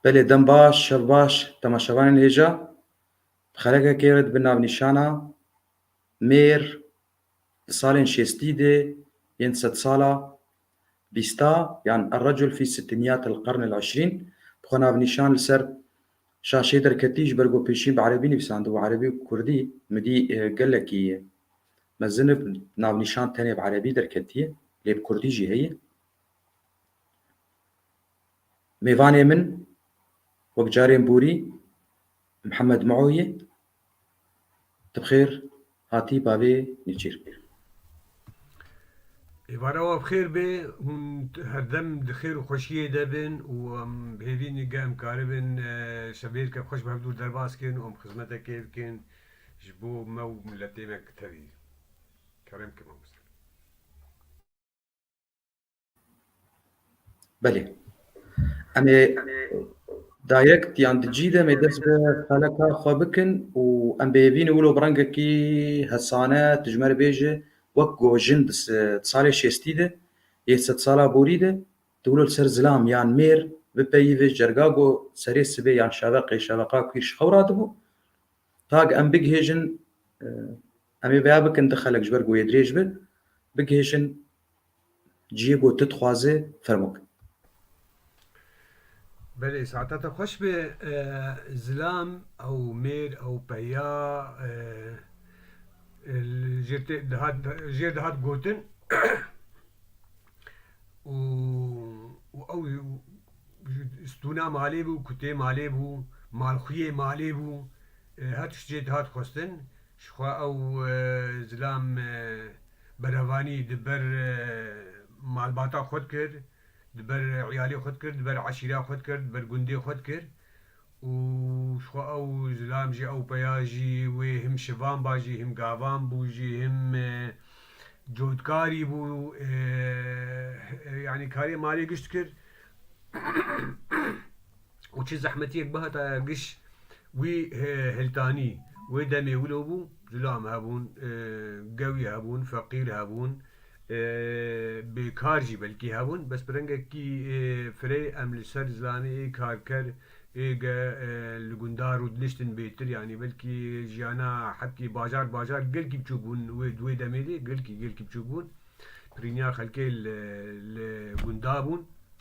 Belê dem baş, şev baş temaşevanên hêja bi xerekekê re dibe navnîşana mêr di salên şêstî de yên di sedsala bîsta yan Errecul fî Sitînîyat el-Qern el-Eşrîn bi xwenavnîşan li ser şaşeyê derketî ji ber ku pêşîn bi erebî nivîsandibo erebî û kurdî midî gelekî mezin e navnîşan tenê bi erebî derketîye lê bi kurdî jî heye. Mêvanê min wek carên borî Mihemed Mao ye. Tu bi xêr hatî bavê Nêçîr. Êvara we bi xêr bê. Hûn herdem di xêr û xweşiyê de bin û em bi hêvî ne em dikaribin şevêrikek xweş bi hev dûr derbas bikin û em xizmetekê bikin ji bo me û miletê me tevî. Kerem ke mamoste. Belê. Em ê direct yan di cî de em ê dest bi xeleka xwe bikin û em bêvîne wilo bi rengekî hesane tu ji me re bêje wek ku jin di salê şêstî de yê sedsala borî de tu wilo li ser zilam yan mêr bipeyivî ji cerga ku serê sibê yan şeveqê şeveqa kûr ji xew radibû tak em bigihêjin Em ê vêya bikin, di xelek ji ber ku wê dirêj be, bigihîşin cihê ku tu dixwazê fermo bike. Belê saeta te xweş be zilam ew mêr ew peya jêr dihat gotin û ew stûna malê bû, kutê malê bû, malxuyê malê bû her tişt jê dihat xwestin Jixwe ew zilam berevanî di ber malbata xwe dikir, di ber îyalê xwe dikir, di ber eşîra xwe dikir, di ber gundê xwe dikir û jixwe ew zilam jî ew peya jî wê him şivan ba jî him gavan bû jî him cotkarî bû yanî karê malê giş dikir. û çi zehmetiyek bihataye giş wî hiltanî. Wê demê wilo bû, culam hebûn, gewî hebûn, feqîr hebûn, bêkar jî belkî hebûn, bes bi rengekî firey em li ser zilanê ê karker ê ge li gundan rûdiniştin bêtir, yanî belkî jiyana hetî bajar bajar gelkî biçûk bûn wê di wê demê de, gelkî gelkî biçûk bûn. Pirîniya xelkê li gundan bûn.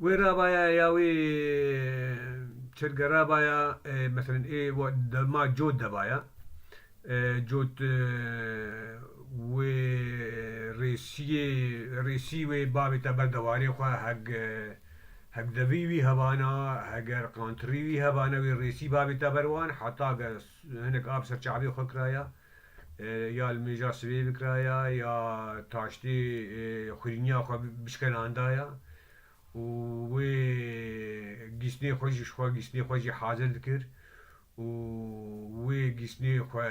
Wê rabaya ya wê çirge rabaya meselen ê dema cot debaya cot wê rêsiyê rêsî wê bavê te ber dewarê xwe heg heg devî wî hebana heger qantirî wî hebana wê rêsî bavê te ber wan heta ge hinek a bi ser çavê xwe kiraya. Ya li mêja sibê bikiraya ya taştê xurîniya xwe bişkenandaya û wê gîstinê xwe jî ji xwe gîstinê xwe jî hazir dikir û wê gîstinê xwe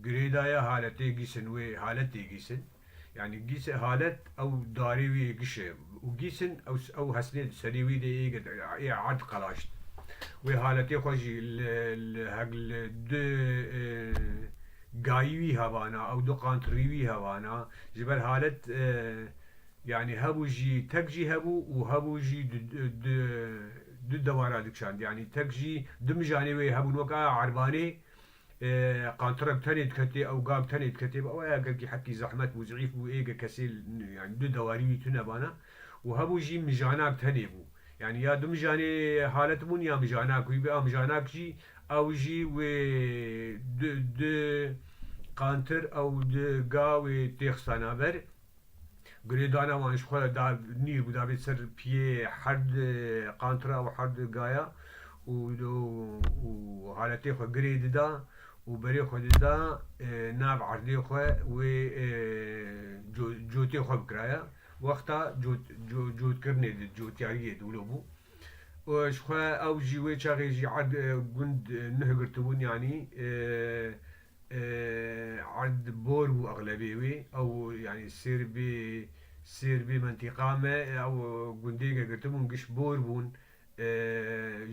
girêdaya haletê gîsin wê haletê gîsin. Yanî gîsê halet ew darê wî yê giş e û gîsin ew hesnê di serê wî de yê girt, yê erd qelaşt. Wê haletê xwe jî li li heg li du gayî wî hevana ew du qant rî wî hevana ji ber halet yanî hebû jî tek jî hebû û hebû jî du du dewara dikişand. Yanî tek jî du mijanê wê hebûn wek a erbanê Ê qantirem tenê diketê, ew gam tenê diketê, ew ê gel kî heqî zehmet bû, zîîf bû, ê gel kesê yanî du dewarî wî tune bana û hemû jî mijanak tenê bû. Yanî ya du mijanê halet bûn ya mijanak wî bê, a mijanak jî ew jî wê du du qantir ew du ga wê tê xistana ber. Gulê dana wan ji xwe da nîr bû dabê ser piyê herd qantira û herd gaya û û haletê xwe girê dida û berê xwe dida nav erdê xwe wê cotê xwe bikiraya wexta cotkirinê di cotiyariyê di wilo bû û ji xwe ew jî wê çaxê jî erd gund nuh girtibûn yanî Erd bor bû exlebê wê. Ew yanî Sêrbê Sêrbê mentîqa me ew gundêke girtibûn giş bor bûn.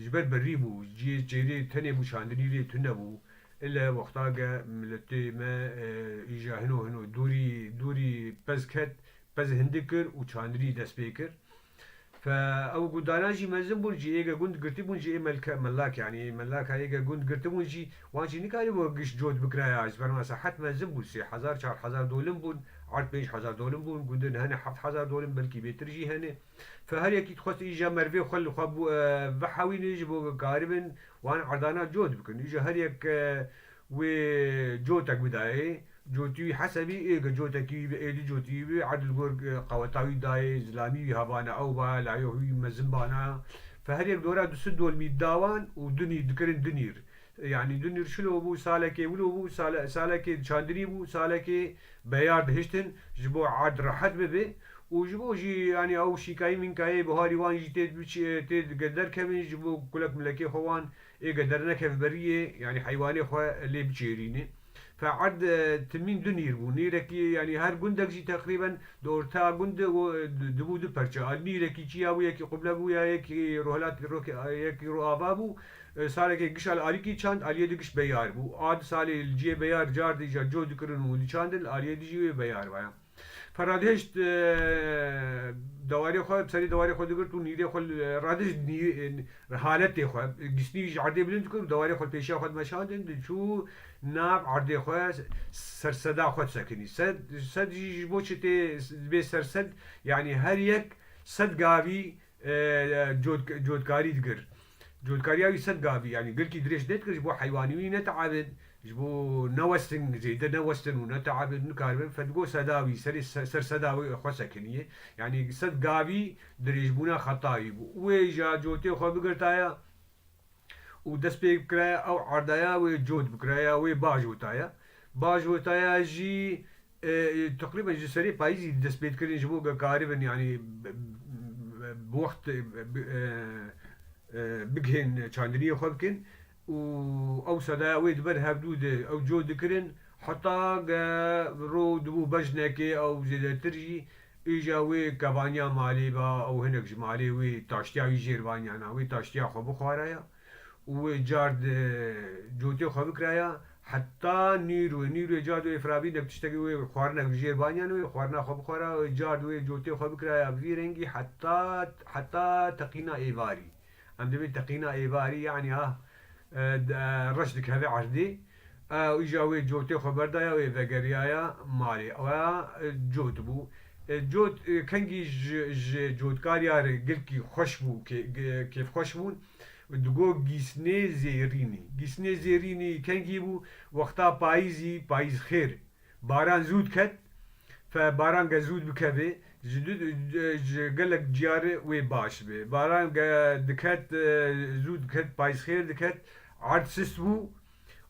Ji ber berî bû. Ciyê çêrê tenê bû çandinî lê tune bû. Île wexta ke miletê me îja hino hino dorî dorî pez ket, pez hindik kir û çandinî dest pê kir. Fe ew gundanan jî mezin bûn jî êge gund girtîbûn jî ê melke melak yanî melaka êge gund girtîbûn jî wan jî nikarîbû giş cot bikiraya ji ber me sehet mezin bûn sê hezar çar hezar dolim bûn erd pênc hezar dolim bûn gundin hene heft hezar dolim belkî bêtir jî hene fe her yekî dixwest îja merivê xwe li xwe bihewîne ji bo bikaribin wan erdanan cot bikin îja her yek Wê cotek bidayê cotî wî hese bî ê ge cotekî wî bi ê du cotî wî bi edil gor qeweta wî dayê zilamî wî havane ew ba layo wî mezin bana fe her yek dora du sid dolmî da wan û du nîr dikirin du nîr yanî du nîr şilo bû salekê wilo bû sale salekê çandinî bû salekê beyar dihiştin ji bo erd rehet bibe û ji bo jî yanî ew şînkayî mînkayê buharî wan jî tê tê derkevin ji bo kulek milekê xwe wan Ê ke dernekeve beriyê yanî heywanê xwe lê biçêrînê. Fe'erd timîn du nîr bû. Nîrekî yanî her gundek jî teqrîben di orta gund dibû du perçe. A nîrekî çiya bû yekî quble bû ya yekî rûhelat yekî rûava bû. Salekê giş al alîkî çand aliyê di giş beyar bû. A di salê li ciyê beyar cardî ja coh dikirin û diçandin aliyê di jî wê beyar vaya. Ferradihişt dewarê xwe bi serê dewarê xwe digirt û nîrê xwe li radihişt nî haletê xwe gisnî ji erdê bilind dikir û dewarê xwe li pêşiya xwe dimeşandin diçû nav erdê xwe ser seda xwe disekinî sed sed jî ji bo çi tê dibê ser sed yanî her yek sed gavî Cotkarî dikir. Cotkariya wî sed gavî yanî girkî dirêj nedikir ji bo heywanî wî neteebin, ji bo newestin zêde newestin û neteebin nikaribin fedgo seda wî serê ser seda wî xwe sekinîyê. Yanî sed gavî dirêjbûna xeta wî bû. Wê ja cotê xwe bigirtaya. û dest pê bikiraya ew erdaya wê cot bikiraya wê baş witaya baş witaya jî teqrîben ji serê payîzî dest pê dikirin ji bo ke karibin yanî bi wext bigihên çandiniyê xwe bikin û ew sedaya wê di ber hevdû de ew cot dikirin heta ke rû dibû bejnekê ew zêdetir jî Îja wî kevaniya malê ba û hinek ji malê wî taştiya wî jêr vaniyana. Wî taştiya xwe bixwaraya û wê card cotê xwe bikiraya heta nîrûê. Nîrûê card wê firabî nek tiştekî wê xwarinek bi jêr vaniyana wê xwarina xwe bixwara û wê card wê cotê xwe bikiraya bi vî rengî heta heta teqîna êvarî. Em divîn teqîna êvarî yanî a reş dikeve erdê û îja wê cotê xwe berdaya wê vegeriyaya malê we cot bû. Cot kengî ji cotkariya re gilkî xweş bû kêfxweş bûn. Digo gîsnê zêrînî. Gîsnê zêrînî kengî bû wexta payîzî payîzxêr Baran zû diket fe baran ge zû bikevê ji du ji gelek ciyar wê baş be. Baran ge diket zû diket payizxêr diket erd sist bû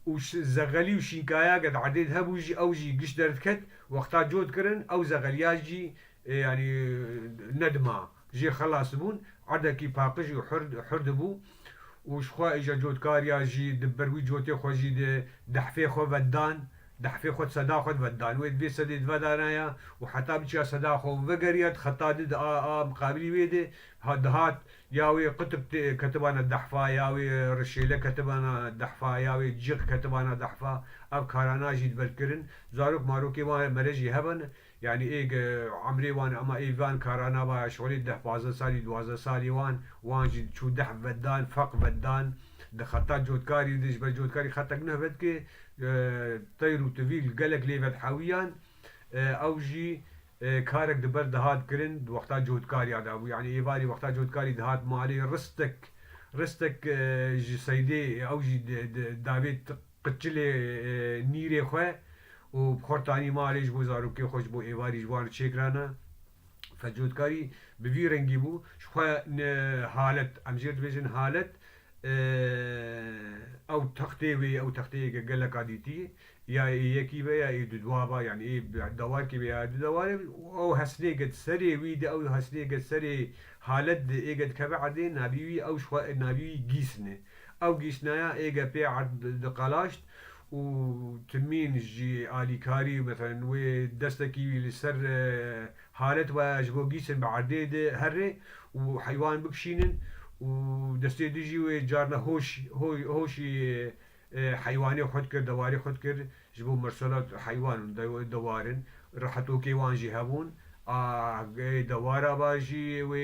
û zegelî û şînkaya ge di erdê de hebû jî ew jî giş derdiket wexta cot kirin ew zegeliya jî yanî nedima. Jê xelas bûn, erdekî paqij û hur dibû û ji xwe îja cotkariya jî di ber wî cotê xwe jî di dehfê xwe ve dan, dehfê xwe di seda xwe ve dan. Wê di vê sedê di ve danaya û heta biçiya seda xwe û vegeriya di xeta di di a miqabilî wê de dihat, ya wê qutb ketibana dehfa, ya wê rişêle ketibana dehfa, ya wê cix ketibana dehfa. Ev karana jî di ve dikirin. Zarok marokê wan mere jî hebe ne. Yanî êg emrê wan e ema ê van karan ava eşxolê deh pazdeh salî duwazdeh salî wan wan jî çûdeh vedan feq vedan di xeta cotkarî de ji ber cotkarî xetek nuh vedike teyr û tivîl gelek lê vedhewîyan ew jî karek di ber dihat kirin di wexta cotkarîya de bû yanî êvarî wexta cotkarî dihat malê ristek ristek ji seydê ew jî di di davê Qıçilê nîrê xwe û bi xortanî malê ji bo zarokê xwe ji bo êvarî ji wan çêkirana. Fecotkarî bi vî rengî bû. Ji xwe ne halet, em jê re dibêjin halet, ew textê wê ye, ew texteyeke geleka dîtî ye. Ya ê yekî be ya ê dudwa be, yanî ê bi dewarkê be ya du dewarê be û ew hesnêke di serê wî de, ew hesnêke di serê halet de êke dikeve erdê navî wî ew ji xwe navî wî gîsn e. Ew giştnaya êge pê erd diqelaşt û timîn jî alîkarî meselen wê destekî li ser halet waya ji bo gîştin bi erdê di herrê û heywan bikişînin û destê di jî wê carna hoş hoşî heywanê xwe dikir, dewarê xwe dikir. Ji bo mirsela heywan û dewar in rehetokê wan jî hebûn a geyê dewara ba jî wê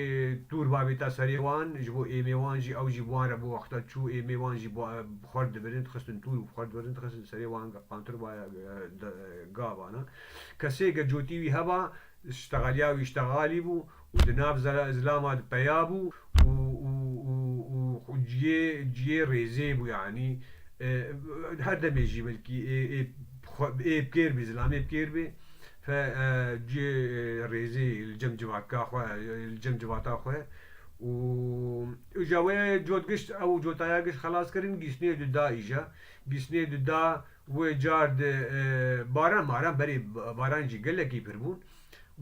tûr ba bêta serê wan ji bo êmê wan jî ew jî bi wan re bo wexta çû êmê wan jî bi xwert dibirin dixistin tûr û bi xwert dibirin dixistin serê wan qantir ba gavan a kesê ge cotî wî heba ji tegelya wî ji tegalî bû û di nav zera îzlama de peya bû û û û û xwe ciyê ciyê rêzê bû yanî her demê jî belkî ê ê ê bi kêr bê îzlamê bi kêr bê fe ciyê rêzê li cem civatka xwe li cem civata xwe û û ja wê cot gişt ew cotaya gişt xelas kirin gîsnê di da îja gîsnê di da Wê car di baran maran berî baran jî gelekî pir bûn.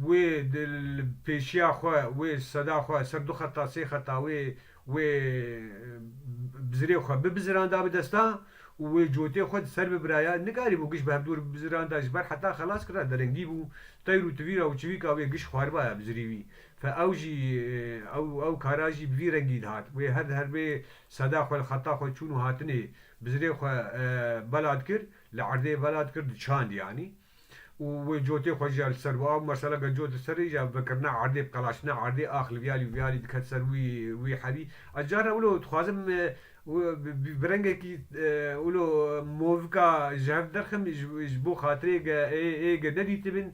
Wê di li pêşiya xwe wê seda xwe ser du xeta sê xeta wê wê bizirê xwe bibiziranda bi desta û wê cotê xwe di ser bibiraya. Nikarî bû giş bi hevdûr bibiziranda ji ber heta xelas kira derengî bû. Teyr û tivîra û çivîka wê giş xwaribaya bizirî wî. Fe ew jî ew ew kara jî bi vî rengî dihat. Wê her di her bê seda xwe li xeta xwe çûn û hatinê Bizirê xwe belat kir, li erdê belat kir diçand yanî û wê cotê xwe jî ya li ser bo. Ew mesela gel cot li ser rê jîya vekirina erdê, bqelaştina erdê, ax li viyalî û viyalî diket ser wî wî herî. Ez carna wilo dixwazim bi rengekî wilo movika ji hev derxim ji bo xatirê ge ê ge nedîtibin.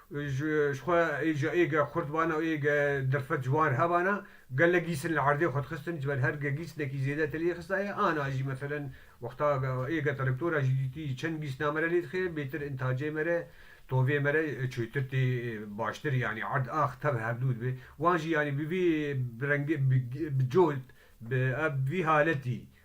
Ji xwe ê ji êge xurt bana û êge dirfet ji wan hebana, gelek gîsn li erdê xwe dixistin, ji ber her ge gîsnekî zêde te lê xistaye, ana jî meselen wexta êge te rektora jî dîtî çend gîsna me re lê dixe, bêtir intacê me re, tovê me re çûtir tê baştir yanî erd ax tev herdû dibe. Wan jî yanî bi vî bi rengê bi cot bi ev bi vî haletî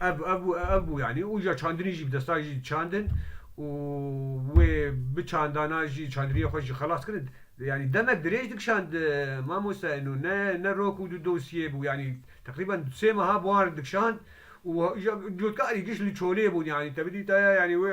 Ev ev ev bû yanî û ya çandinî jî bi destan jî çandin û wê bi çandana jî çandiniyê xwe jî xelas kirin. Yanî demek dirêj dikişand mamoste eno ne ne rok û du dosyê bû yanî teqrîben sê meha buhar dikişand û ya lotka erî giş li çolê bûn yanî tevî dîtaya yanî wê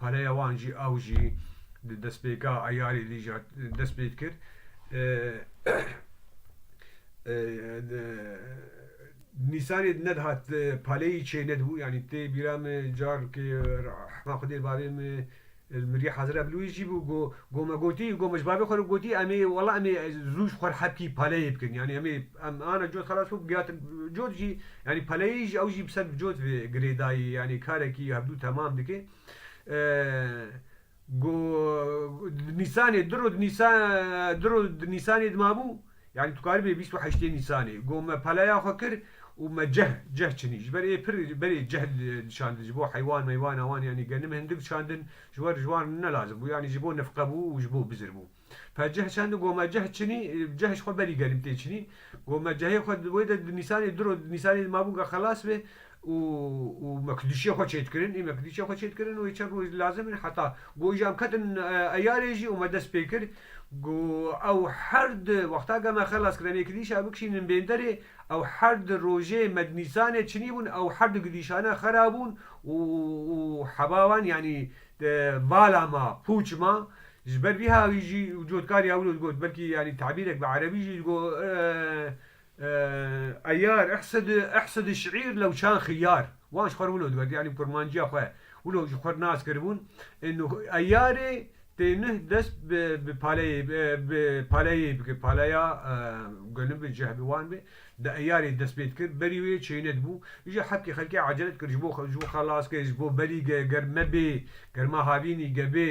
Pereya wan jî ew jî di destpêka eyarê dî jî dest pê dikir. Nîsanê di nedihat paleyî çê nedibû yanî tê bîra min carkê hema xwedê li bavê min li mirî hezira bi lûyî jî bû ku ku me gotî ku me ji bavê xwe re gotî em ê wela em ê zû ji xwe re hepkî paleyê bikin yanî em ê em ana cot xelas bû giyatin cot jî Yanî peleyê jî ew jî bi ser bi cot vê girêdayî yanî karekî hevdû temam dike. Go di nîsanê di ro di nîsa di ro di nîsanê dimabû yanî tu karibê bîst û heştê nîsanê go me peleya xwe kir û me ceh ceh çinî ji ber ê pir berê ceh diçandin ji bo heywan meywana wan yanî genim hindik diçandin ji wer ji wan ne lazim bû yanî ji bo nifqe bû û ji bo bizir bû. Pê cih çend û gome cih çinî, cih ji xwe berî gerîm tê çinî. Gome cihê xwe wê de di Nîsanê diro, di Nîsanê di mabûn ka xelas bê û û me kidûçiyê xwe çê dikirin. Î me kidûçiyê xwe çê dikirin û wê çend roj lazim in heta got jî em ketin eyarê jî û me dest pê kir ku ew her di wexta ke me xelas kir em ê kidîşa bikişînin bênderê ew her di rojê me di Nîsanê çinî bûn ew her du kidîşane xera bûn û û heba wan yanî vala ma, pûç ma, Ji ber vî ha wî jî û cotkariya wilo digot, belkî yanî tebîrek bi erebî jî digot, Eyar ehsedi ehsedi şîîr lewçan xiyar. Wan ji xwe re wilo digot, yanî bi kurmanciya xwe wilo ji xwe re nas kiribûn. Eyarê tênih dest bi paleyê bi paleyê bike, paleya goni bi cih bi wan be, di eyarê dest pê dikir, berî wê çênet bû. Îja hepkê xelkê ecele dikir ji bo ji bo xelas ke, ji bo berî ge ger me bê, ger ma havînî ge bê,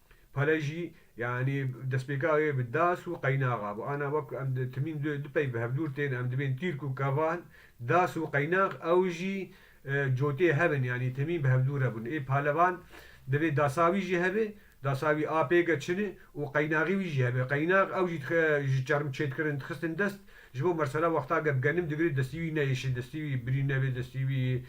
Pale jî yanî destpêka wê bi das û qeynaxa bû. Ana wek ku em di timîn du du pey bi hevdûr tên em dibên tîrk û kevan, das û qeynax ew jî cotê hev in yanî timîn bi hevdû re bûn. Ê palevan divê dasa wî jî hebe, dasa wî a pêge çin e û qeynaxê wî jî hebe. Qeynax ew jî dixê ji çerm çêdkirin dixistin dest ji bo mersela wexta geb genim digirê destî wî neyêşe, destî wî birî nebe, destî wî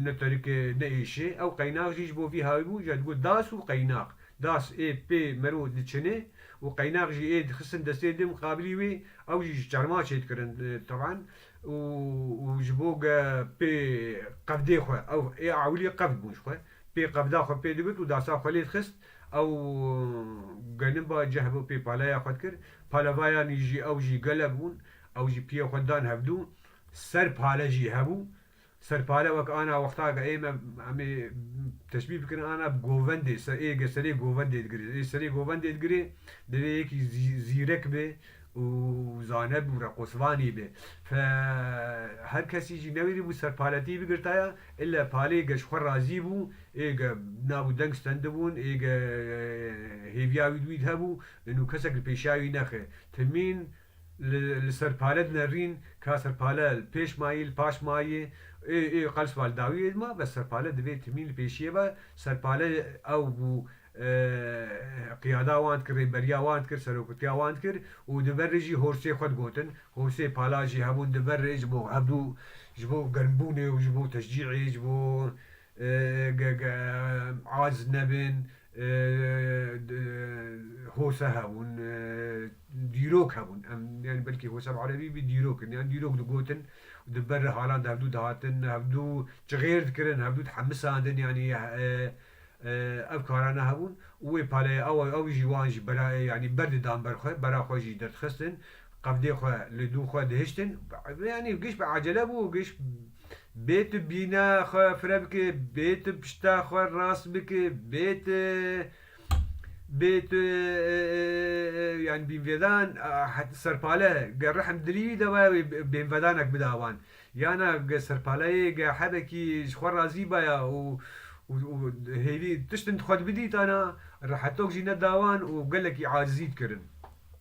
Ne terikê, ne êşê. Ew qeynax jî ji bo vî hawî bû, ja digot das û qeynax. Das ê pê mero diçinê û qeynax jî ê dixistin destê din miqabilî wî, ew jî ji çerma çêdikirin teban û û ji bo ge pê qevdê xwe, ew ê ewilî qevd bûn ji xwe, pê qevda xwe pê digirt û dasa xwe lê dixist, ew geniba cih bo pê paleya xwe dikir. Palevayanî jî ew jî gelek bûn, ew jî piyê xwe dan hevdû Ser pale jî hebû. Ser pale wek ana wexta ke ê me em ê teşbîh bikin ana bi govendê ser ê ge serê govendê digirê. Ê serê govendê digirê divê yekî zîrek bê û zane bû reqosvanî bê. Fe her kesî jî newîrî bû ser paletî bigirtaya îlle palê ge ji xwe razî bû. Ê ge nabû deng stendibûn ê ge hêviya wî di wî di hebû û kesek li pêşiya wî nexe. Timîn. Li li ser pale dinerîn ka ser pale li pêş mayî li paş mayî ê ê qel siva li dawî ê dima bes ser pale divê timî li pêşiyê be ser pale ew bû qiyada wan dikir rêberiya wan dikir seroktiya wan dikir û di verê jî hosê xwe digotin hosê pala jî hebûn di verê ji bo hevdû ji bo germbûnê û ji bo teşcîê ji bo Aciz nebin, hose hebûn, dîrok hebûn. Em yanî belkî hose bi erebî bî dîrok in. Yan dîrok digotin û di ber halan de hevdû dihatin, hevdû çixêr dikirin, hevdû dihemisandin yanî ev karan hebûn û wê pale ew jî wan jî bera yanî berdidan ber xwe, bera xwe jî derdixistin Qevdê xwe li dû xwe dihiştin. Yanî giş bi ecele bû, giş bê tu bîna xwe fire bikê, bê tu pişta xwe rast bikê, bê tu bê tu yanî bînvêdan heta serpale ge rehm dilî wî de waya wê bênvedanek bida wan. Yana ge serpaleyê ge hebekî ji xwe razî baya û û hêvî tiştin di xwe de bidîtana, rehetok jî neda wan û gelekî acizî dikirin.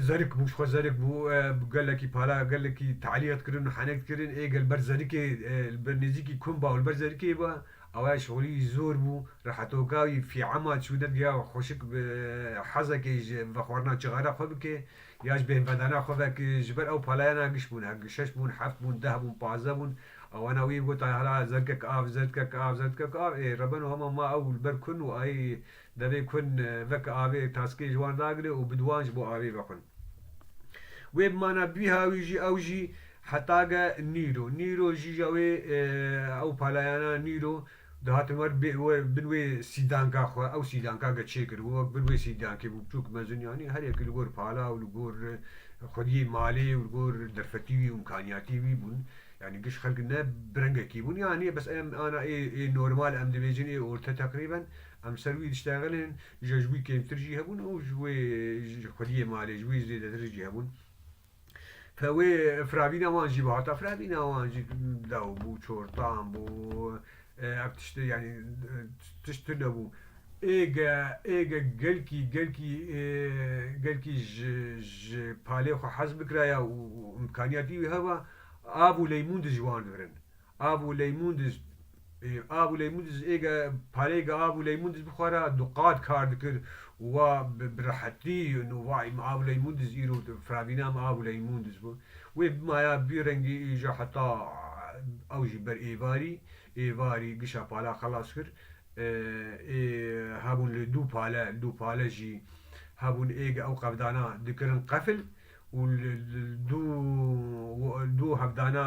Zerik bû, ji xwe zerik bû, bi gelekî para, gelekî talîye dikirin û henek dikirin. Ê gel ber zerikê, li ber nêzîkî komba û li ber zerikê ba. Awayê şolî wî zor bû. Rehetoka wî fîama çû nedigiya xweşik bi hezekê ji vexwarina cixare xwe bike ya ji bêhnvedana xwe vek. Ji ber ew palayana giş bûn, şeş bûn, heft bûn, deh bûn, pazdeh bûn. Awana wî got, Hala zerikek av, zerikek av, zerikek av. Ê rebeno hema ma ew li ber kun û ayê Devên kûn veke avê taskê ji wan ragire û bi di wan ji bo avê vexwin. Wê bi mana bîha wî jî ew jî heta ge nîro. Nîro jî ja wê ew palayana nîro dihatin wer bin wê sîdanka xwe ew sîdanka ge çêkir û wek bin wê sîdankê bû biçûk mezin yanî her yekî li gor pala û li gor xwediyê malê û li gor derfetî wî û imkaniyatî wî bûn. Yanî giş xelk ne bi rengekî bûn yanî bes em ana ê ê normal em dibêjin ê orte teqrîben Em ser wî diştexilin, îja ji wî kêmtir jî hebûn û ji wê ji xwediyê malê ji wî zêdetir jî hebûn. Wê firavîna wan jî bû. Heta firavîna wan jî dew bû, çortan bû. Ev tişt yanî tişt tu nebû. Êge êge gelkî gelkî gelkî ji ji palê xwe hez bikiraya û imkaniyatî wî heba, av û leymûn di ji wan dibirin. Av û leymun diz Av û leymun diz ê ge parêge av û leymun diz bixwara du qat kar dikir û wa bi rehetî no vay min av û leymun diz îro firavîna min av û leymun diz bû. Wê bimaya bî rengî îja heta ew jî ber êvarî êvarî gişa pala xelas kir. Ê hebûn li du pale li du pale jî hebûn ê ge ew qevdana dikirin qefil û li du du hevdana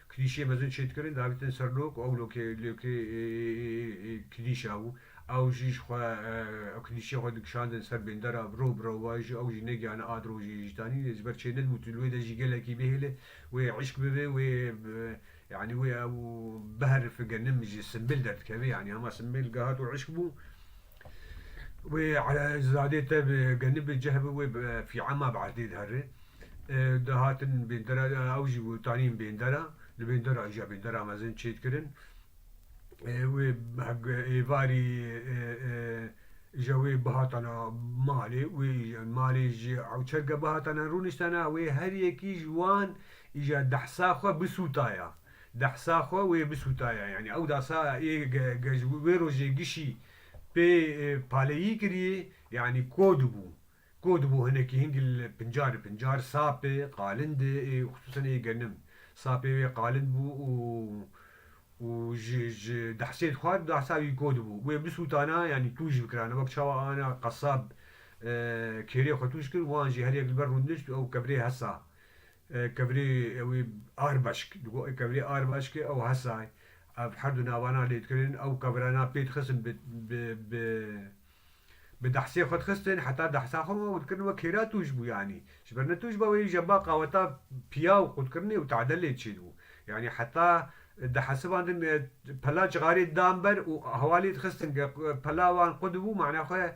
Klîşê mezin çêdikirin davîtin ser lo ku ew lokê lokê klîş a û ew jî ji xwe ew klîşê xwe dikişandin ser bêndera biro biro wa jî ew jî negihane a dirojê jî tanî ji ber çê nedibû tu li wê de jî gelekî bihêle wê îşk bibe wê yanî wê ew biherife genim ji simbêl derdikeve yanî hema simbêl gihat û îşk bû Wê zadê te bi genî bi ceh bi wê bi fîama bi erdê diherê. Di hatin bêndera ew jî wê tanîn bêndera. Li bêndera jî ya bêndera mezin çêd kirin. Wê êvarî ja wê bihatana malê wê malê ji ewçerke bihatana rûniştana wê her yekî ji wan îja dehsa xwe bisûtaya. Dehsa xwe wê bisûtaya yanî ew dasa ê gej wê rojê gişî pê paleyî kirî yanî ko dibû ko dibû hinekî hingil pincar bi pincar sapê qalind ê xisûsan ê genim sapê wê qalind bû û û ji ji dehsê dixwar dehsa wî ko dibû wê bisûtana yanî tûj bikirana wek çawa ana qesab kêrê xwe tûj kir wan jî her yek li ber rûndin şt û ew kevirê hesa Kevirê wî Arbaşk digo. Kevirê Arbaşkê ew hesay. Ev her du navana lêdkirin. Ew kevirana pê dixistin bi bi dehsê xwe dixistin heta dehsa xwe û dikirin wek hêra tûj bû yanî. Ji ber ne tûj ba wê ji ba qaweta piyaw xwe dikirinê û tedelê çê dibû. Yanî heta dihesibandin pela cixarê didan ber û hewa lêdixistin. Ge pela wan qu dibû mana xwe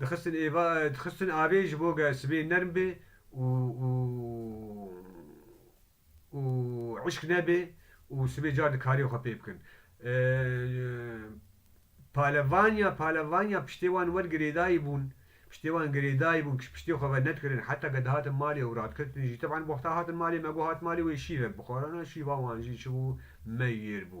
Dixistin êva dixistin avê ji bo ge sibê nerm bê û û û îşk nebê û sibê car di karê xwe pê bikin. Palevaniya palevaniya piştê wan wer girêdayî bûn, piştê wan girêdayî bûn kij piştê xwe ve nedikirin heta ke dihatin malê û radkirtin jî. Teban wexta hatin malê me got hat malê wê şîvek bixwarana, şîva wan jî çi bû? Meyêr bû.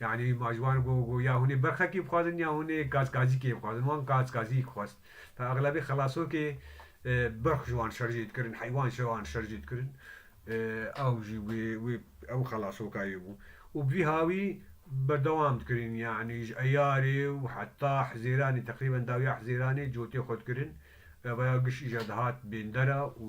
Yanî ma ji wan got got ya hûnê berxekî bixwazin ya hûnê kazkazîkê bixwazin. Wan kazkazîk xwest. Te exlebî xelasokê berx ji wan şerjê dikirin, heywan ji wan şerjê dikirin. Ew jî wê wê ew xelasokayê bû. Û bi vî hawî berdewam dikirin. Yanî ji Eyarê û heta Hizêranê teqrîben dawiya Hizêranê cotê xwe dikirin. Revaya giş îcar dihat bêndera û.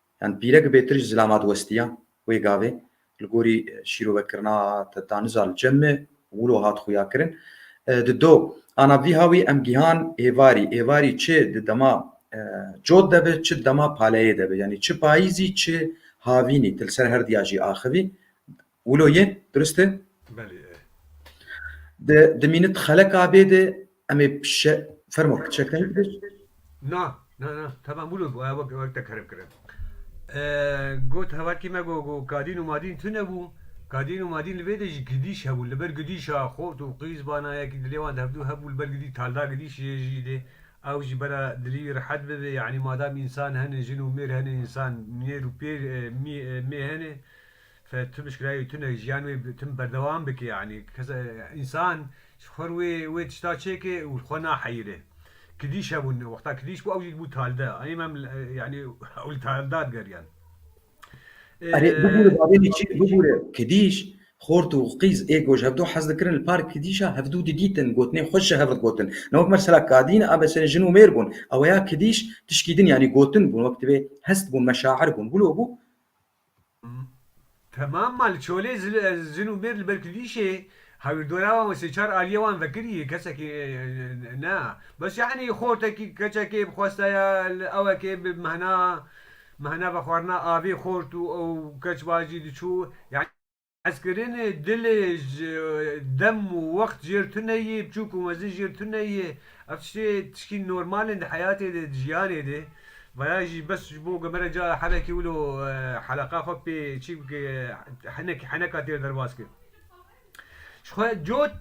Yan pîre ki bêtir ji zilam hat westiya, wê gavê li gorî şîrovekirina te ta niza li cem e, wilo hat xuyakirin. Di do ana vî hawî em gihan êvarî. Êvarî çi di dema cot de bi, çi di dema paleyê de bi. Yanî çi payîzî, çi havînî, tu li ser her diya jî axivî. Wilo ye, durist e? Belê e. Di di mînit xelek abê de em ê şe... Fermo, çekdayî bidir? Na, na, na, temam wilo bû, ew wek te kerem kir e. Got hevalkî me got got kadîn û madîn tune bû, kadîn û madîn li vê de jî gidîş hebûn, li ber gidîşa xort û qîz bana yekî dilê wan di hev dû hebû, li ber gidî talda gidîşê ye jî dê ew jî bera dilî wî rehet bibe, yanî madam însan hene, jin û mêr hene, însan mêr û pêr, mî, mê hene. Xweda tu bişkirayî tu ne jiyan wê tu ne berdewam bike yanî kesa însan ji xwe re wê tişta çêke û li xwe naheyirê. Kidîş hebûn wexta kidîş bû ew jî dibû talde em em yanî ew li talda digeriyan. Erê bibûre bavê min çi bibûre kidîş xort û qîz ê ku ji hevdu hez dikirin li par kidîşa hevdu didîtin gotinên xwe ji hev re digotin. Ne wek mesela kadîn a beserê jin û mêr bûn ew ya kidîş tişkî din yanî gotin bûn wek divê hest bûn meşaer bûn wilo bû. Temam ma li çolê jin û mêr li ber kilîşê hawirdora wan û sê çar aliyê wan vekirî kesekî ne bes yanî xortekî keçekê bi xwestaya li ewekê bi mehna mehna vexwarina avê xort û ew keç vajî diçû yanî Hezkirinê dilê ji dem û wext jêr tune yê, biçûk û mezin jêr tune yê. Ev tiştê tişkî normal in di heyatê de, di jiyanê de. Vaya jî bes ji bo ku mere ca helekî wilo heleqa xwe pê çî bike, hinek heneka têr derbas kir. Ji xwe cot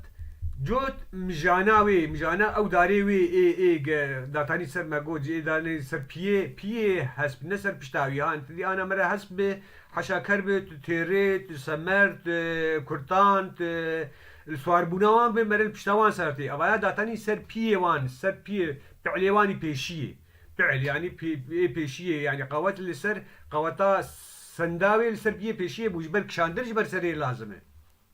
cot mijana wê, mijana ew darê wê ê ê ge datanî ser me got, ji ê danê ser piyê, piyê hesp ne ser pişta wî. Han ti dî ana mere hesp bi, Heşa ker bi, tu têrê, tu semer, tu kurtan, tu li swaribûna wan bi, mere li pişta wan ser tê. Evaya datanî ser piyê wan, ser piyê pi'lê wan î pêşiyê. Pi'l yanî pê, ê pêşiyê yanî qewet li ser qeweta sendawê li ser piyê pêşiyê bû. Ji ber kişandin ji ber serê lazim e.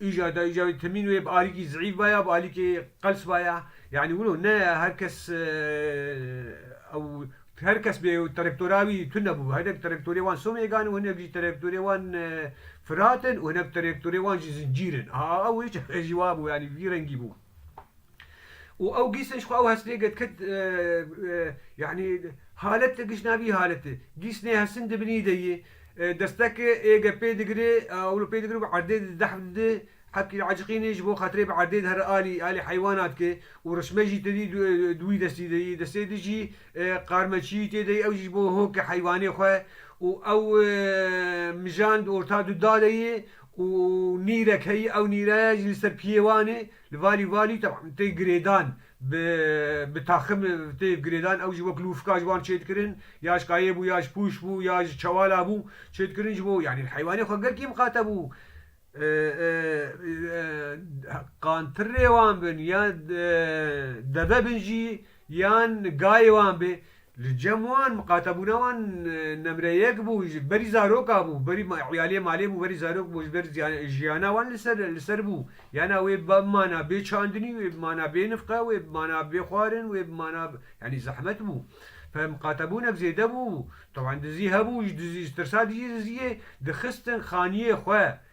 Îja da îja wê temîn wê bi alîkî zîîf ba ya bi alîkê qels ba ya. Yanî wilo ne ya her kes ew her kes bê ew terektora wî tune nebû. Hinek terektorê wan somêgan in û hinek jî terektorê wan firat in û hinek terektorê wan jî zincîr in. Aa ew hinek jî wabû yanî vî rengî bû. û ew gîsên ji xwe ew hesnê girtkit yanî halet giş navî halet e. Gîs nê hesin dibinî de yê. Desteke ê ge pê digire ew li pê digire bi erdê de didehf dide. Hevkî diaciqîne ji bo xatirê bi erdê de here alî alî heywana dike û rişme jî tedî di wî destî de yê. Destê di jî qarmeçiyî tê de yê ew jî ji bo hoke heywanê xwe û ew mijan di orta du da de yê û nîrek heyî ew nîreya jî li ser piyê wan ê li valî valî teb'an tê girêdan bi bi taxim tê girêdan ew jî wek lûfka ji wan çêdikirin ya ji kayê bû ya ji pûş bû ya ji çewala bû çêdikirin ji bo yanî heywanê xwe gel kêm qate bû qantirê wan bin ya deve bin jî yan gayê wan bê Li cem wan miqatebûna wan nemre yek bû, ji berî zaroka bû, berî îyaliyê malê bû, berî zarok bû, ji ber jiyana wan li ser li ser bû. Yana wê bi mana bê çandinî, wê bi mana bê nifqe, wê bi mana bê xwarin, wê bi mana yanî zehmet bû. Peh miqatebûnek zêde bû. Teb'an dizî hebû, ji dizî ji tirsa dizî dizîyê dixistin xaniyê xwe.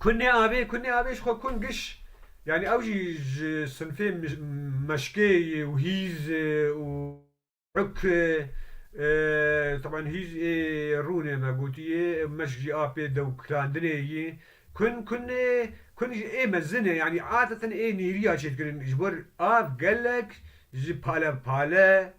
Kunê avê, kunê avê ji xwe kun giş. Yanî ew jî ji sinfê meşkê ye û hîz û uk e. Teban hîz ê rûnê me gotiye, meşk jî a pê dewkilandinê ye. Kun, kun ê, kun ji ê mezin e. Yanî adeten ê nêrîya çêdikirin. Ji bo av gelek ji pale pale.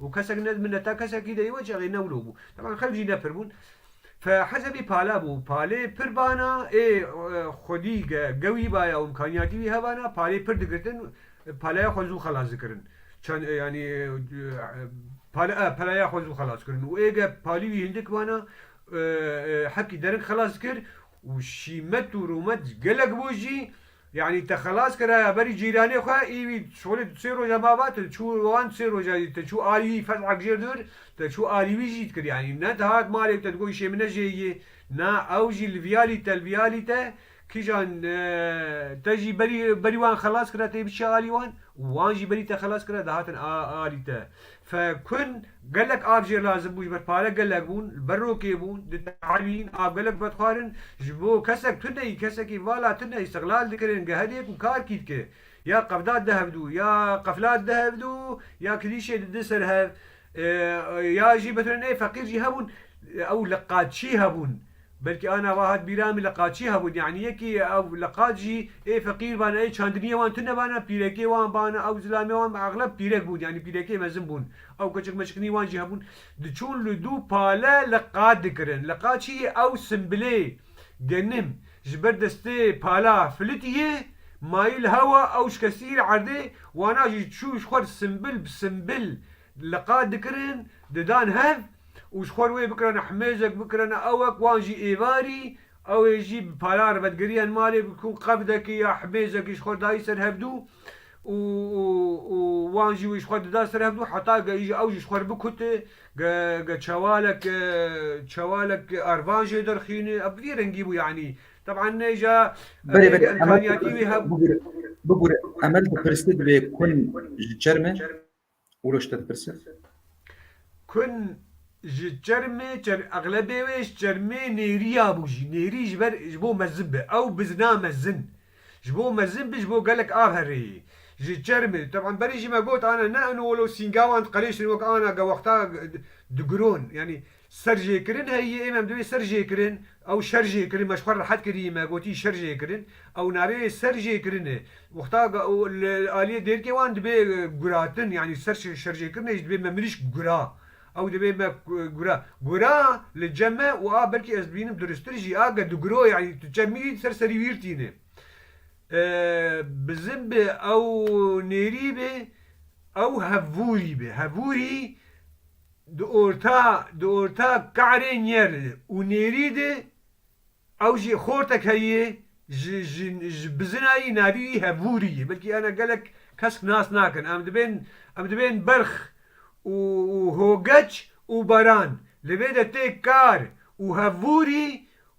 Û kesek ne min ne ta kesekî de yewê çexê ne wilo bû. Teban xelk jî ne pir bûn. Fe heze bî pale bû. Palê pir bana ê xwedî ge gewî baya û imkaniyatî wî hebana palê pir digirtin paleya xwe zû xelas dikirin. Çend yanî pale e peleya xwe zû xelas kirin û ê ge palî wî hindik bana hepkî derin xelas dikir û şîmet û rûmet gelek bû jî Yanî te xelas kiraye berî cîranê xwe ê wî şolê tu sê roja ma va te çû wan tu sê roja jî te çû alî wî fez'ek jêr dûr te çû alî wî jî dikir yanî ne dihat malê û te digot îşê min ne jê yê na ew jî li viya lî te li viya lî te kîjan te jî berî berî wan xelas kira tê biçiya alî wan û wan jî berî te xelas kira dihatin alî te Fekun gelek av jê lazim bû ji ber pare gelek bûn, li ber rokê bûn, ditehabîn, av gelek bi vedixwarin, ji bo kesek tuneyî, kesekî vala tuneyî îstiqlal dikirin, geheriyê ku kar kî dike, ya qevda dihevdû, ya qefla dihevdû, ya kirîşê didi ser hev, ya jî meselê neyê feqîr jî hebûn, ew li qaçî hebûn. Belkî ana wa hat bîra min liqaçî hebûn yanî yekî ew liqaç jî ê feqîr bane ê çandiniyê wan tune bane pîrekê wan bane ew zilamê wan bi exleb pîrek bûn yanî pîrekê mezin bûn ew keçik meçikinî wan jî hebûn diçûn li dû pale liqaç dikirin liqaçî yê ew simbilê genim ji ber destê pala filitî yê mayî li hewa ew şikestî li erdê wana jî çû ji xwe simbil bi simbil liqaç dikirin didan hev. û ji xwe re wê bikirane himêjek bikirane ewek wan jî êvarî ew ê jî bi pala re vedigiriyen malê bikun qevdekê ya himêjekê ji xwe re dayî ser hevdû û û wan jî wê ji xwe re dida ser hevdû heta ge îja ew jî ji xwe re bikute ge ge çewalek çewalek ervan jê derxîne ev bi vî rengî bû yanî teban îja Berê berê emel dipirse bigure emel dipirse divê kun ji çerme. Oroç te dipirse. Kun ji çermê çer exlebê wê ji çermê nêriya bû jî nêrî ji ber ji bo mezin be ew bizna mezin ji bo mezin be ji bo gelek a herê yê ji çermê teban berî jî me got ana ne ino wilo sîngawan diqeleşin wek ana gewexta digiron yanî Ser jê kirin heyî êm em divê ser jê kirin ew şer jê kirin me ji xwe rehet kirî me gotî şer jê kirin ew navê ser jê kirin e wexta li aliyê dêrkê wan dibê guratin yanî ser şer jê kirinê jî dibê me mirîşk gura ew dibê me gura gura li cem e û a belkî ez dibînim duristir jî a ke diguro yanî tu çem mirî ser serî wîr tîne e bizin be ew nêrî be ew hevûrî be hevûrî. Di orta di orta Ka'rê Nyer û Nêrî de ew jî xortek heye ji ji ji bizina yî navî wî Hevûrî ye. Belkî ana gelek kesk nas nakin. Em dibên em dibên berx û û hogeç û baran. Li vê de tê Kar û Hevûrî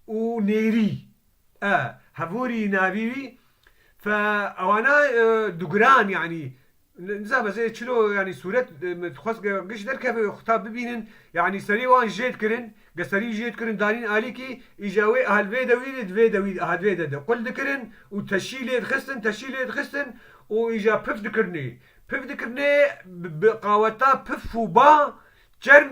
û Nêrî. E. Hevûrî navî wî. Fe ewana dugiran yanî Nizam ez ê çilo yanî sûret min dixwest ge giş derkeve xwe ta bibînin yanî serî wan jêd kirin ge serî wî jêd kirin danîn alîkî îja wê aha li vê dewî de di vê dewî aha di vê de de qul dikirin û teşî lê dixistin teşî lê dixistin û îja pif dikirinê pif dikirinê bi bi qaweta pif û ba çerm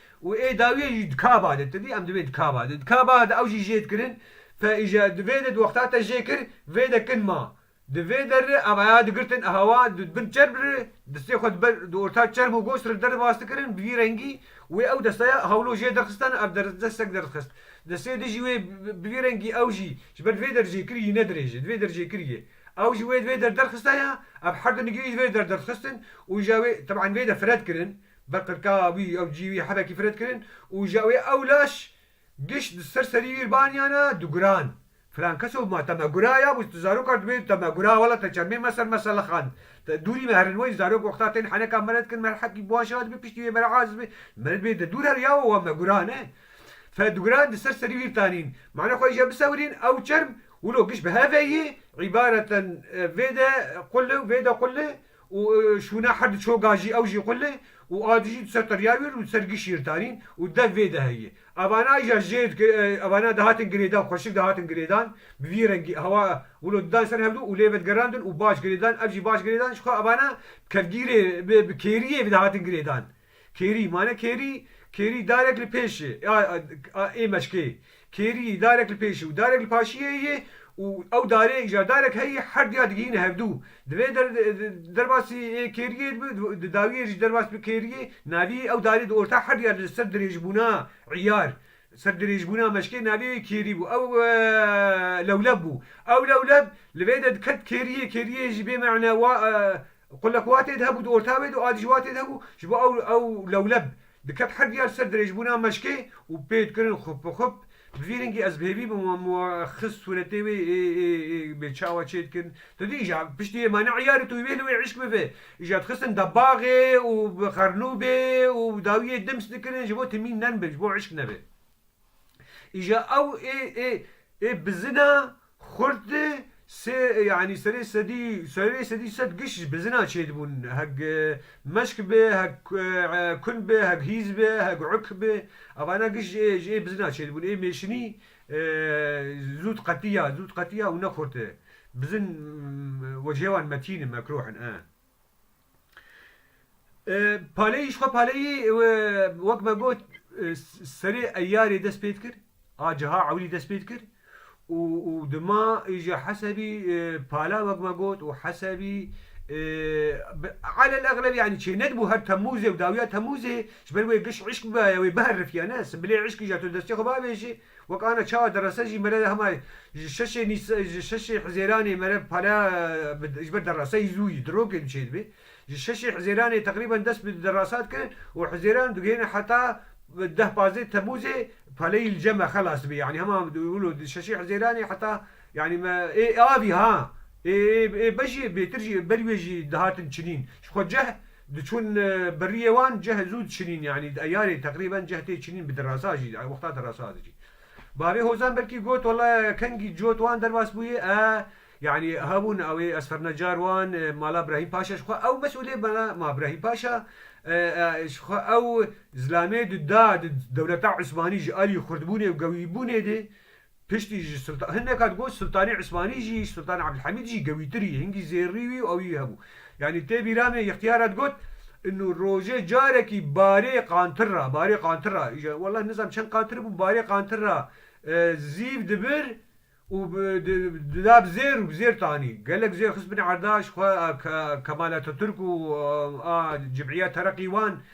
Û ê dawiyê jî dikaba de, tu dî em divê dikaba de, dikaba de ew jî jê dikirin, pe îja di vê de di wexta te jê kir, vê de kin ma. Di vê der de em heya digirtin e hewa, di di bin çerm re, destê xwe di ber di orta çerm û gos re derve astikirin, bi vî rengî, wê ew desteya hewlo jê derxistan, ev der desteg derdxist. Destê di jî wê bi vî rengî ew jî, ji ber di vê der jê kiriyî ne dirêj e, di vê der jê kiriyê. Ew jî wê di vê der derxistaya, ev her du nigirî di vê der derdxistin û îja wê, teb'an vê de fred kirin, Bi qirka wî ew cî wî hebekî firet kirin û ji wê ew laş gişt di ser serî wî baniyana diguran. Filan kes û ma te me gura ya bûs tu zarokar dibê te me gura wela te çermê me ser me selixand. Te dûrî me herin wey zarok wexta tên heneka mere dikin me hekî baş a dibê piştî wê mere aziz bê mere dibê te dûr her ya we me gura ne. Fe diguran di ser serî wî tanîn. Mane xwe îje bisewirîn ew çerm wilo gişt bi heveyî îbareten vê de quli û vê de quli. Û şûna her du çoga jî ew jî qulê û a dijî du ser qirya wîr û du ser giş yîr tarîn û dev vê de heyî. Evana îja jê dikir, evana dihatin girêdan, xweşik dihatin girêdan, bi vî rengî, hewa wilo didan ser hev du û lê ve digerandin û baş girêdan, ev jî baş girêdan jixwe evana bi kevgîrê, bi kêriyê dihatin girêdan. Kêrî, mane kêrî, kêrî darek li pêşê a ê meşkê. Kêrî darek li pêşê û darek li paşiyê yê û ew darê îcar darek heyî her diya digihîne hevdû. Divê derbasî yê kêriyê dibi, di dawiyê jî derbas bi kêriyê, navî ew darê di orta her diya li ser dirêjbûna îyar, ser dirêjbûna meşkê navê wê kêrî bû. Ew lewleb bû. Ew lewleb li vê de diket kêriyê, kêriyê jî bê me'ne wa Qulek watê de hebû di orta wê de û adî ji watê de hebû ji bo ew ew lewleb diket her diya li ser dirêjbûna meşkê û pê dikirin xûp bi xûp bi vî rengî ez bi hêvî bi wan bi wan xist sûretê wê ê ê ê bê çawa çê dikin tu dî îja piştî yê mane îyarê tu wî bê li wê îşk bivê îja dixistin debaxê û bi xernûbê û dawiyê dims dikirin ji bo timîn nerm be ji bo îşk nebe. Îja ew ê ê ê bizina xurt di sê yanî serê sedî serê sedî sed giş ji bizina çêdibûn heg meşk bê heg kun bê heg hîz bê heg uk bê evana giş ji ê ji ê bizina çêdibûn ê mêşinî zû diqetî ya zû diqetî ya û ne xurt e bizin wecihê wan metîn in mekroh in e. Paleyî ji xwe paleyî wek me got serê Eyarê dest pê dikir a ciha ewlî dest pê dikir û dima îje hesebî pala wek me got û hesebî alel egleb yanî çê nedibû her Temûzê û dawiya Temûzê ji ber wê giş îşk bibaye wê biherifîya ne simbilê îşkî ja tu li destê xwe biavêjî Wek ana çawa derase jî mere hema ji şeşê nîs ji şeşê hizêranê mere pala bi ji ber deraseyî zû yî dirokê diçê dibê. Ji şeşê hizêranê teqrîben dest bi derasa dikirin û hizêran digihêne heta deh pazdeh temûzê paleyî li cem e xelas dibê yanî hema wilo di şeşê hizêranê heta yanî me ê avî ha ê ê bejî bêtir jî berî wê jî dihatin çinîn ji xwe ceh Diçûn bi riyê wan cih zû diçinîn yanî di eyarê teqrîben cih tê çinîn bi dirasa jî di wexta dirasa de jî. Bavê Hozan belkî got walla kengî cot wan derbas bûyê e yanî hebûn ewê ez ferna car wan mala Brahîm Paşa ji xwe ew mesûlê mala ma Brahîm Paşa ji xwe ew zilamê di da di dewleta Usmanî ji alî xurtbûnê û gewîbûnê de Piştî ji Sultan hin neka digot Sultanê Usmanî jî, Sultanê Abdulhamîd jî gewîtir î, hingî zêrrî wî û ew î hebû. Yanî tê bîra me Îxtiyara digot Înu rojê carekî barê qantir ra, barê qantir ra, îja welleh nizam çend qantir bû, barê qantir ra zîv dibir û bi di dida bi zêr û bi zêr tanî. Gelek zêr xist binê erdaş xwe a Ke Kemal Ataturk û a Cimîya Tereqî wan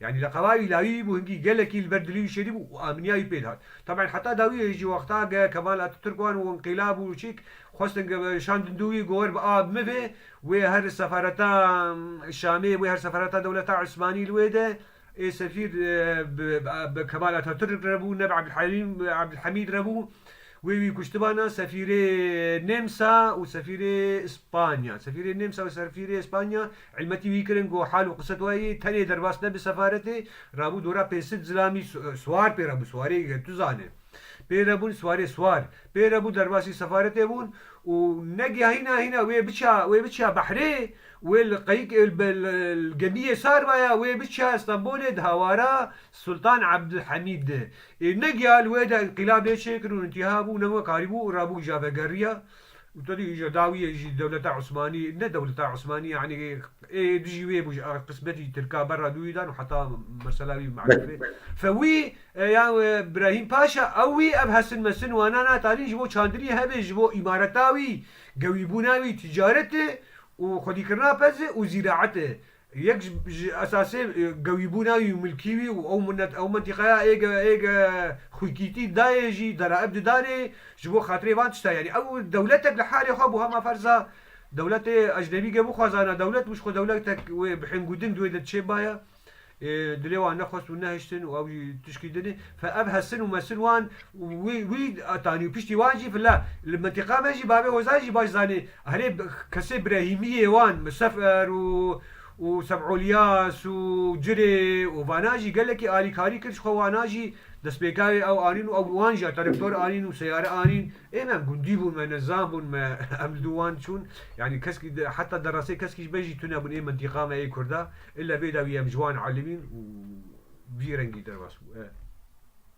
Yanî li qelawî lawî bû hingî gelekî li ber dilî û şerî bû û aminîya wî pêd hat. Taben heta dawiyê hê jî wexta ge Kemal Atatürk wan û înqîlab û çîk xwestin ge şandin dû wî gower bi a bi min vê wê her sefereta Şamê wê her sefereta dewleta Usmanî li wê de ê sefîr bi Kemal Atatürk re bû ne bi Abdulhamîd re bû Wê wî kuştibana sefîrê Nêmsa û sefîrê Spanya. Sefîrê Nêmsa û sefîrê Spanya îlmetî wî kirin ku hal û qiset wayî tenê derbas ne bi sefaretê rabû dora pê sid zilamî swar pê rebû swarê ge tu zane pê rebûn swarê swar pê rebû derbasî sefaretê bûn û negîya hîna hîna wê biça wê biça behrê wê li qeyik li gemiyê sar vaya wê biça Stenbolê di hawara Sultan Abdulhamîd de ê negiyal wê de înqîlabê çêkir û întiha bû newe karî bû û rabûk ja vegeriya û tedî îja dawî yê jî dewleta Osmanî ne dewleta Osmanî yanî ê dijî wê bû ji qismetî tirka berra dûyî dan û heta mesela wî mexlûfê fe wî ya Brahîm Paşa ew wî ev hesin mesin wana na tanî ji bo çandinî hebê ji bo îmareta wî gewîbûna wî tîcaretê û xwedîkirina peze û zîraete Yek ji esasê gewîbûna wî û milkî wî û ew minet ew mintîqeya ê ge ê ge xwîkîtî dayê jî deraib didarê ji bo xatirê van tişta yanî ew dewletek li halê xwe bû hema ferza dewletê ecnebî ge bixwazana dewlet bû ji xwe dewletek wê bihên ku din di wê de diçê baye dilê wan nexwest û nehiştin û ew jî tişkî din e fe ev hesin û mesin wan wî wî atanî û piştî wan jî fila li mintîqa me jî bavê hozan jî baş zanê Herê kesê birehîmiyê wan Misefer û û Seb'ulyas û Cirê û vanan jî gelekî alîkarî kir ji xwe wanan jî destpêkavê ew anîn û ew wan jî terektor anîn û seyare anîn ê me em gundî bûn me nizam bûn me em li dû wan çûn yanî keskî heta derasê keskî ji me jî tune bûn ê mintîqa me ê kurda ê levê de wî em ji wan elimîn û vî rengî derbas bû.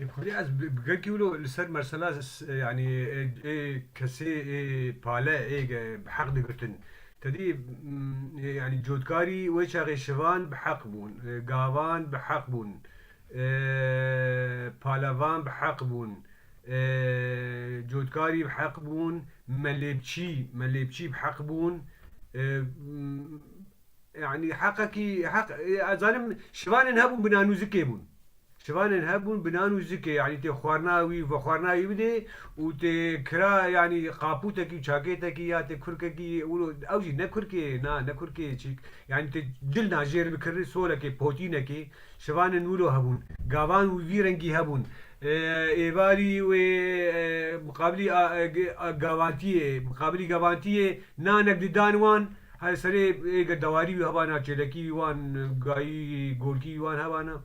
Ê Kurdî ez bi gelkî wilo li ser mesela yanî ê kesê ê pale ê bi heq digirtin. Tedî yanî cotkarî wê çaxê şivan bi heq bûn, gavan bi heq bûn, palevan bi heq bûn, cotkarî bi heq bûn, melêbçî melêbçî bi heq bûn, Yanî heqekî heq ez zanim şivanên hebûn bi nan û zikê bûn. Şivanên hebûn bi nan û zikê yanî tê xwarina wî vexwarina wî bidê û tê kira yanî qapûtekî û çakêtekî ya tê kurkekî wilo ew jî ne kurkê yê na ne kurkê yê çîk yanî tê dil na jêr bikirin solekê potînekê şivanên wilo hebûn gavan wî vî rengî hebûn êvarî wê miqabilî a gavantiyê miqabilî gavantiyê nanek didan wan Her serê ê girdewarî wî heba na, çêlekî wî wan gayî, gorkî wî wan heba na,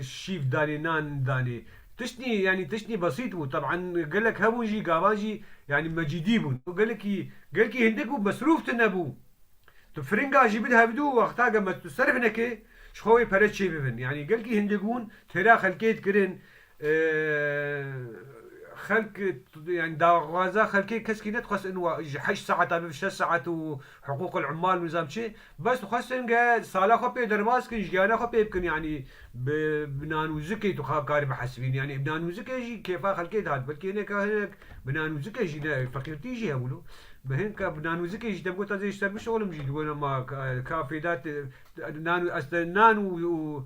şîv danê, nan danê. Tiştî yanî tiştî besît bû. Teb'an gelek hebûn jî gavan jî yanî mecîdî bûn. Gelkî gelkî hindik bû mesrûf tune bû. Tu firinga jî bid hevdû wexta ge me tu serf neke, ji xwe wê pere çêbibin. Yanî gelkî hindik bûn têra xelkê dikirin, Xelk yanî daxwaza xelkê keskî nedixwest in wa ji heşt saet a bibe şeş saet û hiqûqil ummal û nizam çi bes dixwest in ke sala xwe pê derbas bikin jiyana xwe pê bikin yanî bi nan û zikê tu karî bihesibînî yanî nan û zikê jî kêfa xelkê dihat belkî hineka hinek bi nan û zikê jî ne feqîrtî jî hebûn û bi hin ka bi nan û zikê jî te bi got ez ê ji te bişolim jî dibûna ma ka fêda te nan û ez te nan û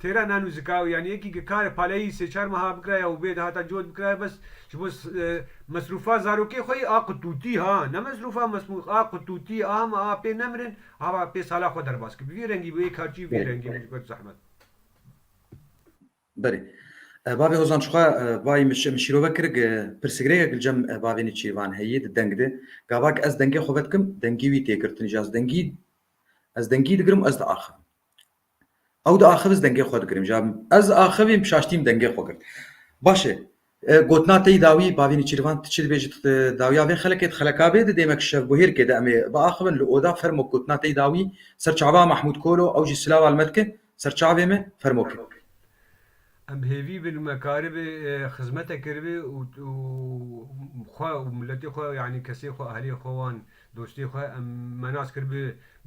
Têra nano zika û yanî yekî ke karê paleyî sê çar meha bikiraye û bê de hata cot bikiraye bes ji bo mesrûfa zarokê xwe yî a qutûtî ha ne mesrûfa mesmûx a qutûtî a hema a pê nemirin hava pê sala xwe derbas kir bi vî rengî bû yê kar çî bi vî rengî bû ji ber zehmet. Berê. Bavê Hozan çixwe vayî min min şîrove kir ke pirsgirêkek li cem bavê Nêçîrvan heye di deng de gava ke ez dengê xwe vedikim dengî wî tê girtin jî ez dengî ez dengî digirim û ez diaxivim Ew di axivîz dengê xwe dikirim ja ez axivîm pişaştîm dengê xwe girt. Baş e. Gotina te yî dawî bavî Nîçîrvan tu çi dibêjî tu dawiya vê xelekê di xelekavê di dêmek şevbuhêrkê de em ê biaxivin li oda fermo gotina te yî dawî ser çava Mahmûd Kolo ew jî silawa li me dike ser çavê me fermo ki Em hêvî bin me karibê xizmete kiribê û xwe û miletê xwe yanî kesê xwe ahlê xwe wan dostê xwe em me nas kiribê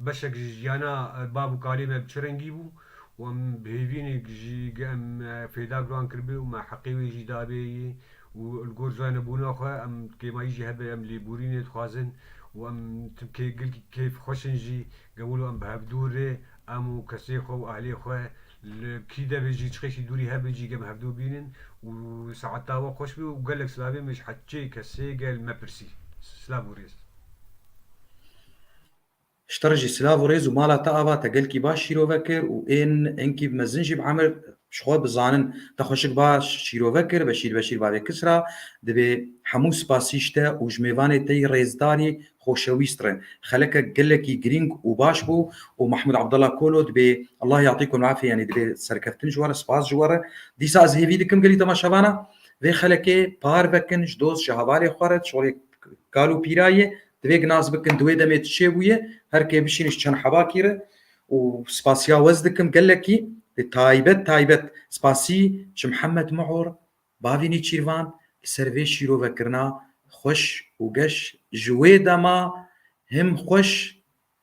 beşek ji jiyana bav û kalê me bi çi rengî bû û em bi hêvînê jî em fêda bi wan kiribê û me heqê wê jî dabê yê û li gor zane bûna xwe em kêmayî jî hebe em lêbûrînê dixwazin û em tim kê gil kêf xweş in jî Gewilo em bi hevdûr rê em û kesê xwe û ahlê xwe li kî de be jî çixekî dûrî hebe jî gem hevdûr bînin û saeta we xweş be û gelek silavê me ji heçê kesê gel me pirsî. Silav û rêz. Ji te re jî silav û rêz û mala te ava te gelkî baş şîrove kir û ên enkî mezin jî bi emir ji xwe bi zanin te xweşik baş şîrove kir. Beşîr Beşîr Bavê Kisra dibê hemû spasî ji te û ji mêvanê te yî rêzdarî xoşewîst re. Xelekek gelekî girîng û baş bû û Mahmûd Abdallah Kolo dibê Allah ya'tîkum l'afî yanî dibê serkeftin ji we re, spas ji we re. Dîsa ez hêvî dikim gelî temaşevana vê xelekê par vekin ji doz ji hevalê xwe re, çolê kal û pîra ye, divêk nas bikin di wê demê tu çê bûye, her kê bişîne ji çend hebakî re û spasiya wez dikim gelekî, dê taybet taybet spasî ji Mihemed Mihor Bavî Nêçîrvan li ser vê şîrovekirina xweş û geş ji wê dema him xweş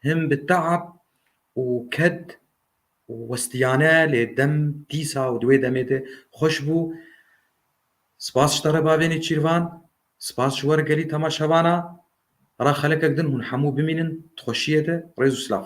him bi teab û ked û westiyane lê dem dîsa û di wê demê de xweş bû. Spas ji te re bavê Nêçîrvan, spas ji we re gelî temaşevana ra xelekek din hûn hemû bimînin di xweşiyê de. Rêz û silav.